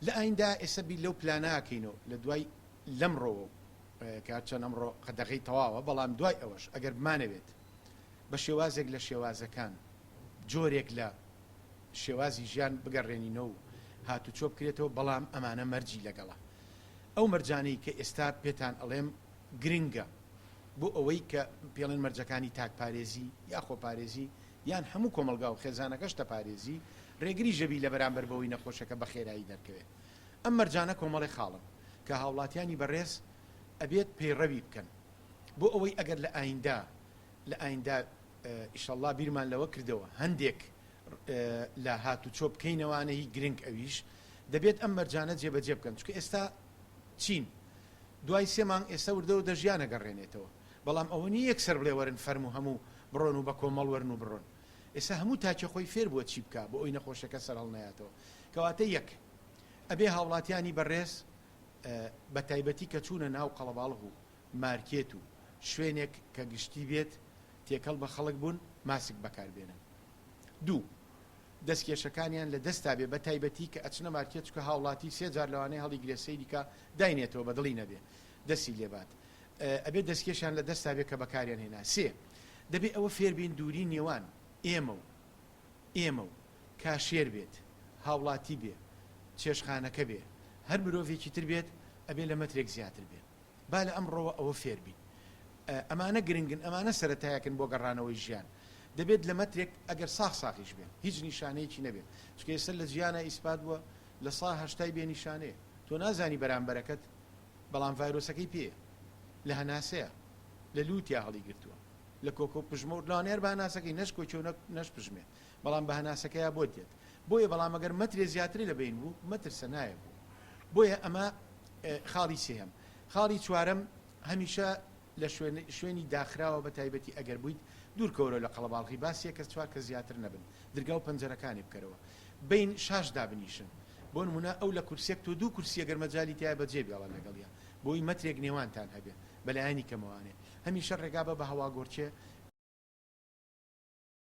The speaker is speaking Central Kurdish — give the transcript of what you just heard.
لە ئایندە ئێستا بیر لەو پلانە ئەکەین و لە دوای لەمڕۆوە و کە هەرچەند ئەمڕۆ قەدەغەی تەواوە بەڵام دوای ئەوەش ئەگەر بمانەوێت بە شێوازێک لە شێوازەکان جۆرێک لە شێوازی ژیان بگەڕێنینەوە و هاتوچۆ بکرێتەوە بەڵام ئەمانە مەرجی لەگەڵە ئەو مەرجانەی کە ئێستا پێتان ئەڵێم گرنگە بۆ ئەوەی کە پێڵێن مەرجەکانی تاکپارێزی یا خۆپارێزی یان هەموو کۆمەڵگا و خێزانەکەش دەپارێزی، رێگری ژەبی لە بەرامبەر بەوەی نەخۆشەکە بە خێرایی دەرکەوێ. ئەم مەرجانە کۆمەڵێ خاڵن کە هاوڵاتیانی بەڕێز ئەبێت پەیڕەوی بکەن بۆ ئەوەی ئەگەر لە ئایندە لە ئایندە ئیشەڵڵا بیرمان لەوە کردەوە هەندێک لە هاتوچۆ بکەینەوانە هی گرنگ ئەویش دەبێت ئەم مەرجانە جێبەجێ بکەن چونکە ئێستا چین دوای سێ مانگ ئێستا وردەوردە ژیان ئەگەڕێنێتەوە. بەڵام ئەوە نیە یەکسەر بڵێ وەرن فەرموو هەموو بڕۆن و بەکۆمەڵ وەرن و بڕۆن ئێستا هەموو تاکێ خۆی فێر بووە چی بکا بۆ ئەوی نەخۆشەکە سەرهەڵنەیاتەوە کەواتە یەک ئەبێ هاوڵاتیانی بەڕێز بە تایبەتی کە چوونە ناو قەڵەباڵغ و مارکێت و شوێنێک کە گشتی بێت تێکەڵ بە خەڵک بوون ماسک بەکار بێنن دوو دەست کێشەکانیان لە دەستا بێ بە تایبەتی کە ئەچنە مارکێت چکە هاوڵاتی سێ جار لەوانەیە هەڵیگرێ سەیریکە داینێتەوە بە دڵی نەبێ دەسی لێبات ئەبێ دەستکێشیان لە دەستا بێ کە بەکاریان هێنا. سێ، دەبێ ئەوە فێر بین دووری نێوان ئێمە و ئێمە و کاشێر بێت، هاوڵاتی بێ چێشتخانەکە بێ، هەر مرۆڤێکی تر بێت، ئەبێ لە مەترێک زیاتر بێ. با لە ئەمڕۆوە ئەوە فێر بین. ئەمانە گرنگن، ئەمانە سەرەتایەکن بۆ گەڕانەوەی ژیان. دەبێت لە مەترێک، ئەگەر ساخ ساخیش بێن، هیچ نیشانەیەکی نەبێت. چونکە ئێستا لە جیانا ئیسپات بووە، لە سا هەشتای بێ نیشانەیە. تۆ نازانی بەرامبەرەکەت بەڵام ڤایرۆسەکەی پێیە، لە هەناسەیە، لە لووتیا هەڵیگرتووە، لە کۆکە و پژمە و لەوانەیە هەر بە هەناسەکەی، نەش کۆکی و نەش پژمێ، بەڵام بە هەناسەکەیا بۆت دێت. بۆیە بەڵام ئەگەر مەترێ زیاتری لە بەین بوو، مەترسە نایە بۆ. بۆیە ئەمە خاڵی سێیەم. خاڵی چوارەم، هەمیشە لە شوێن شوێنی داخراوە بە تایبەتی ئەگەر بوویت دوور کەوەرەوە لە قەڵەباڵغی با سێ کەس چوار کەس زیاتر نەبن درگا و پەنجەرەکانی بکەرەوە بەین شاش دابنیشن بۆ نموونە ئەو لە کورسیەک تۆ دوو کورسی ئەگەر مەجالی تیایە بە جێ بێڵە لەگەڵیا بۆی مەترێک نێوانتان هەبێ بە لایەنی کەمەوانێ هەمیشە ڕێگا بە بە هەواگۆڕکێ